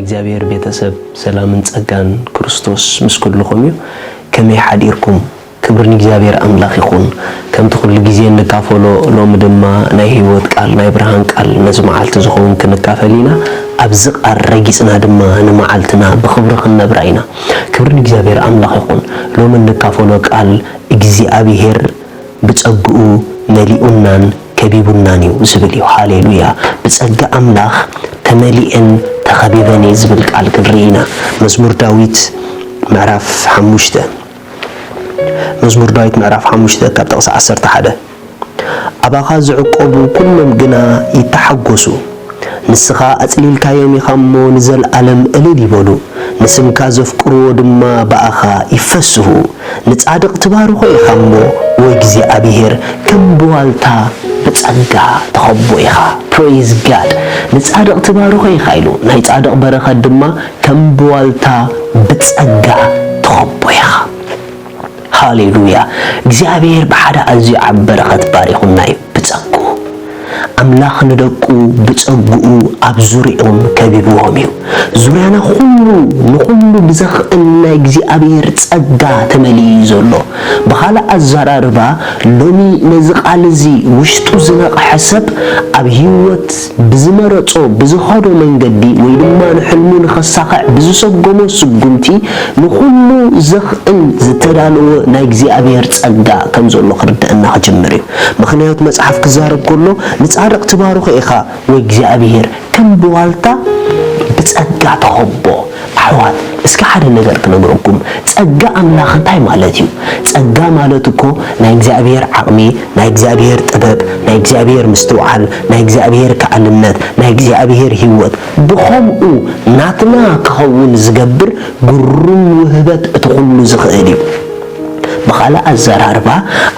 እግዚኣብሔር ቤተሰብ ሰላምን ጸጋን ክርስቶስ ምስ ኩልኹም እዩ ከመይ ሓዲርኩም ክብሪ ንእግዚኣብሔር ኣምላኽ ይኹን ከምቲ ኩሉ ግዜ እንካፈሎ ሎሚ ድማ ናይ ሕይወት ቃል ናይ ብርሃን ቃል ነዚ መዓልቲ ዝኸውን ክንካፈል ኢና ኣብዚ ቃል ረጊጽና ድማ ንመዓልትና ብኽብሪ ክንነብራ ኢና ክብሪ ንእግዚኣብሔር ኣምላኽ ይኹን ሎሚ እንካፈሎ ቃል እግዚኣብሔር ብጸግኡ መሊኡናን ከቢቡናን እዩ ዝብል እዩ ሃሌሉያ ብጸጋ ኣምላኽ ተመሊኤን ተኸቢበን እየ ዝብል ቃል ክንርኢ ኢና መዝሙር ዳዊት ምዕራፍ ሓሙሽተ መዝሙር ዳዊት ምዕራፍ ሓሙሽተ ካብ ጥቕሲ ዓሰርተ ሓደ ኣባኻ ዝዕቈቡ ኵሎም ግና ይተሓጐሱ፣ ንስኻ ኣጽሊልካዮም ኢኻ እሞ፣ ንዘለኣለም እልል ይበሉ፣ ንስምካ ዘፍቅርዎ ድማ ብኣኻ ይፈስሁ። ንጻድቕ ትባርኾ ኢኻ እሞ፣ ኦ እግዚኣብሄር፣ ከም ብዋልታ ብጸጋ ትኸቦ ኢኻ። Praise God! ንጻድቕ ትባርኾ ኢኻ ኢሉ፣ ናይ ጻድቕ በረኸት ድማ፣ ከም ብዋልታ ብጸጋ ትኸቦ ኢኻ። ሃሌሉያ! እግዚኣብሄር ብሓደ ኣዝዩ ዓቢ በረኸት ባሪኹና እዩ፣ ብጸግኡ። ኣምላኽ ንደቁ ብጸግኡ ኣብ ዙርያኦም ከቢብዎም እዩ። ዙርያና ኩሉ ንኹሉ ብዘኽእል ናይ እግዚኣብሄር ጸጋ ተመሊኡ እዩ ዘሎ። ብኻልእ ኣዘራርባ ሎሚ ነዚ ቃል እዚ ውሽጡ ዝነቕሐ ሰብ ኣብ ህይወት ብዝመረጾ ብዝኸዶ መንገዲ ወይ ድማ ንሕልሙ ንኸሳኽዕ ብዝሰጎሞ ስጉምቲ ንኹሉ ዘኽእል ዝተዳለወ ናይ እግዚኣብሔር ጸጋ ከም ዘሎ ክርደኣና ክጅምር እዩ። ምኽንያቱ መጽሓፍ ክዛረብ ከሎ ንጻድቕ ትባርኾ ኢኻ ወይ እግዚኣብሔር ከም ብዋልታ ብጸጋ ትኸቦ፣ ኣሕዋት እስከ ሓደ ነገር ክነግረኩም ጸጋ ኣምላኽ እንታይ ማለት እዩ ጸጋ ማለት እኮ ናይ እግዚኣብሔር ዓቅሚ ናይ እግዚኣብሔር ጥበብ ናይ እግዚኣብሔር ምስትውዓል ናይ እግዚኣብሔር ከኣልነት ናይ እግዚኣብሔር ሂወት ብኸምኡ ናትና ክኸውን ዝገብር ግሩም ውህበት እቲ ኩሉ ዝኽእል እዩ ብኻልእ ኣዘራርባ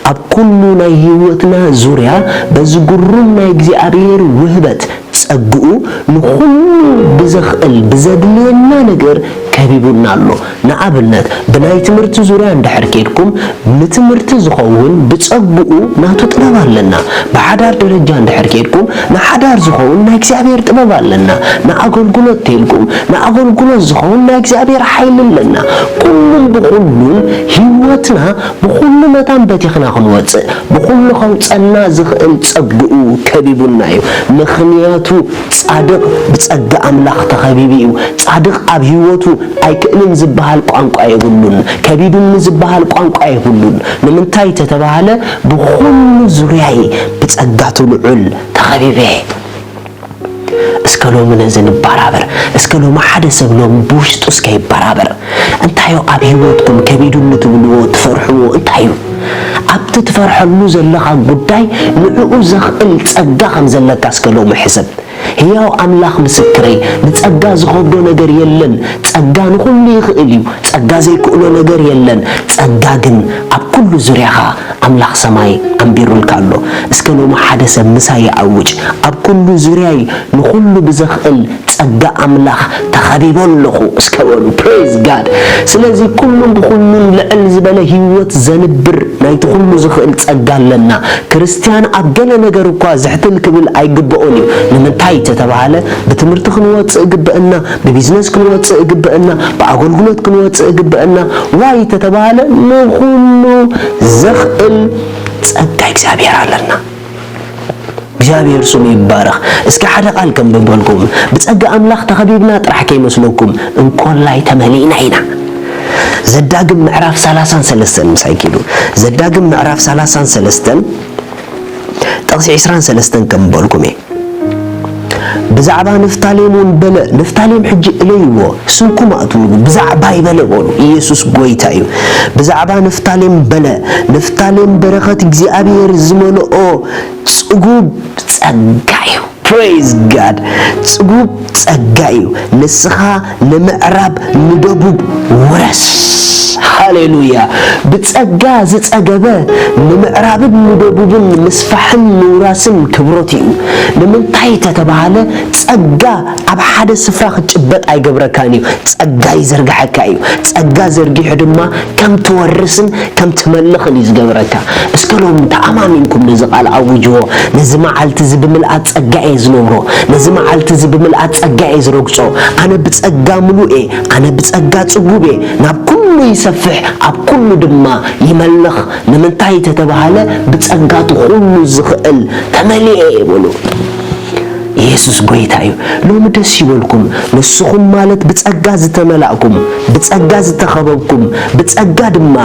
ኣብ ኩሉ ናይ ሂወትና ዙርያ በዚ ግሩም ናይ እግዚኣብሔር ውህበት ጸግኡ ንኹሉ ብዘኽእል ብዘድልየና ነገር ከቢቡና ኣሎ። ንኣብነት ብናይ ትምህርቲ ዙርያ እንድሕር ኬድኩም ንትምህርቲ ዝኸውን ብጸግኡ ናቱ ጥበብ ኣለና። ብሓዳር ደረጃ እንድሕር ኬድኩም ንሓዳር ዝኸውን ናይ እግዚኣብሔር ጥበብ ኣለና። ንኣገልግሎት ተልኩም ንኣገልግሎት ዝኸውን ናይ እግዚኣብሔር ሓይሊ ኣለና። ኩሉን ብኹሉን ሕይወትና ብኹሉ መታን በቲኽና ክንወጽእ ብኹሉ ከውጸና ዝኽእል ጸግኡ ከቢቡና እዩ ምኽንያቱ ጻድቕ ብጸጋ ኣምላኽ ተኸቢቡ እዩ ጻድቕ ኣብ ሕይወቱ ኣይክእልን ዝበሃል ቋንቋ የብሉን ከቢዱኒ ዝበሃል ቋንቋ የብሉን ንምንታይ ተተባህለ ብኹሉ ዙርያይ ብጸጋቱ ልዑል ተኸቢበ እስከ ሎሚ ነዚ ንባራበር እስከ ሎሚ ሓደ ሰብ ሎሚ ብውሽጡ እስከ ይባራበር እንታዩ ኣብ ሂወትኩም ከቢዱኒ ትብልዎ ትፈርሕዎ እንታዩ ኣብቲ ትፈርሐሉ ዘለኻ ጉዳይ ንዕኡ ዘኽእል ጸጋ ከም ዘለካ እስከ ሎሚ ሕሰብ ህያው ኣምላኽ ምስክረይ ንጸጋ ዝኸብዶ ነገር የለን ጸጋ ንኹሉ ይኽእል እዩ ጸጋ ዘይክእሎ ነገር የለን ጸጋ ግን ኣብ ኩሉ ዙርያኻ ኣምላኽ ሰማይ ኣንቢሩልካ ኣሎ እስከ ሎሚ ሓደ ሰብ ምሳይ ይኣውጅ ኣብ ኩሉ ዙርያይ ንኹሉ ብዘኽእል ጸጋ ኣምላኽ ተኸቢበ ኣለኹ እስከ በሉ praise God ስለዚ ኩሉን ብኹሉን ልዕል ዝበለ ህይወት ዘንብር ናይቲ ኩሉ ዝኽእል ጸጋ ኣለና ክርስትያን ኣብ ገለ ነገር እኳ ዝሕትል ክብል ኣይግበኦን እዩ ንምንታይ ተተባህለ ብትምህርቲ ክንወጽእ ግበእና ብቢዝነስ ክንወጽእ እግበእና ብኣጎልጉሎት ክንወጽእ እግበእና ዋይ ተተባህለ ንኹሉ ዘኽእል ጸጋ እግዚኣብሔር ኣለና። እግዚኣብሔር ስሙ ይባረኽ። እስኪ ሓደ ቃል ከንብበልኩም ብጸጋ ኣምላኽ ተኸቢብና ጥራሕ ከይመስለኩም እንኮላይ ተመሊእና ኢና። ዘዳግም ምዕራፍ ሰላሳን ሰለስተን ምሳይ ኪዱ ዘዳግም ምዕራፍ ሰላሳን ሰለስተን ጥቕሲ ዕስራን ሰለስተን ከም በልኩም እየ። ብዛዕባ ንፍታሌም እውን በለ፣ ንፍታሌም ሕጂ እለይዎ፣ ስንኩም ኣእትውሉ፣ ብዛዕባይ በለ በሉ፣ ኢየሱስ ጐይታ እዩ። ብዛዕባ ንፍታሌም በለ፣ ንፍታሌም በረኸት እግዚኣብሔር ዝመልኦ ጽጉብ ጸጋ እዩ። Praise God! ጽጉብ ጸጋ እዩ። ንስኻ ንምዕራብ ንደቡብ ውረስ። ሃሌሉያ! ብጸጋ ዝጸገበ ንምዕራብን ንደቡብን ምስፋሕን ምውራስን ክብሮት ኢዩ። ንምንታይ ተተባህለ ጸጋ ኣብ ሓደ ስፍራ ክትጭበጥ ኣይገብረካን ኢዩ፣ ጸጋ ይዘርግሐካ ኢዩ። ጸጋ ዘርጊሑ ድማ ከም ትወርስን ከም ትመልኽን እዩ ዝገብረካ። እስከ ሎሚ እንተ ኣማሚንኩም ነዚ ቓል ኣውጅዎ፣ ነዚ መዓልቲ እዚ ብምልኣት ጸጋ እየ ዝነብሮ፣ ነዚ መዓልቲ እዚ ብምልኣት ጸጋ እየ ዝረግጾ፣ ኣነ ብጸጋ ምሉእ እየ፣ ኣነ ብጸጋ ጽጉብ እየ፣ ናብ ኩሉ ይሰፍሕ፣ ኣብ ኩሉ ድማ ይመልኽ፣ ንምንታይ እተተባህለ ብጸጋ እቲ ኩሉ ዝኽእል ተመሊኤ እየ በሉ። ኢየሱስ ጎይታ እዩ ሎሚ ደስ ይበልኩም ንስኹም ማለት ብጸጋ ዝተመላእኩም ብጸጋ ዝተኸበብኩም ብጸጋ ድማ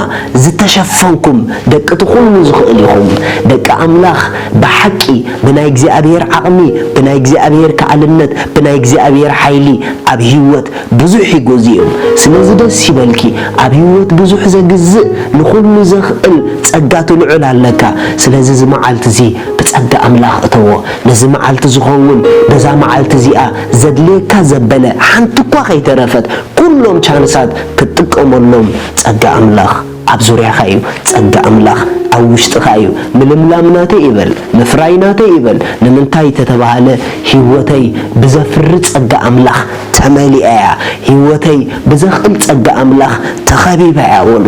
ዝተሸፈንኩም ደቂቲ ኩሉ ዝኽእል ኢኹም ደቂ ኣምላኽ ብሓቂ ብናይ እግዚኣብሔር ዓቕሚ ብናይ እግዚኣብሔር ከኣልነት ብናይ እግዚኣብሔር ሓይሊ ኣብ ሕይወት ብዙሕ ይጎዝእዮም ስለዚ ደስ ይበልኪ ኣብ ሂወት ብዙሕ ዘግዝእ ንኹሉ ዘኽእል ጸጋ ትልዑል ኣለካ ስለዚ እዚ መዓልቲ እዚ ብጸጋ ኣምላኽ እተዎ ነዚ መዓልቲ ዝኸውን በዛ መዓልቲ እዚኣ ዘድልየካ ዘበለ ሓንቲ እኳ ከይተረፈት ኩሎም ቻንሳት ክትጥቀመሎም ጸጋ ኣምላኽ ኣብ ዙርያኻ እዩ ጸጋ ኣምላኽ ኣብ ውሽጥኻ እዩ ምልምላም ናተይ ይበል ምፍራይ ናተይ ይበል ንምንታይ ተተባህለ ሂወተይ ብዘፍሪ ጸጋ ኣምላኽ ተመሊኣ እያ ሂወተይ ብዘኽእል ጸጋ ኣምላኽ ተኸቢባ እያ በሉ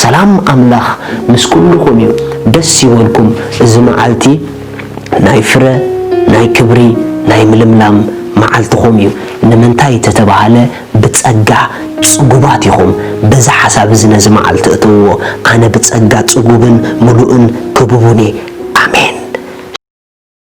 ሰላም ኣምላኽ ምስ ኩሉኹም እዩ ደስ ይበልኩም እዚ መዓልቲ ናይ ፍረ ናይ ክብሪ ናይ ምልምላም መዓልትኹም እዩ ንምንታይ ተተባህለ ብጸጋ ጽጉባት ኢኹም፣ በዚ ሓሳብ እዚ ነዚ መዓልቲ እተውዎ፣ ኣነ ብጸጋ ጽጉብን ምሉእን ክቡብን እየ። ኣሜን።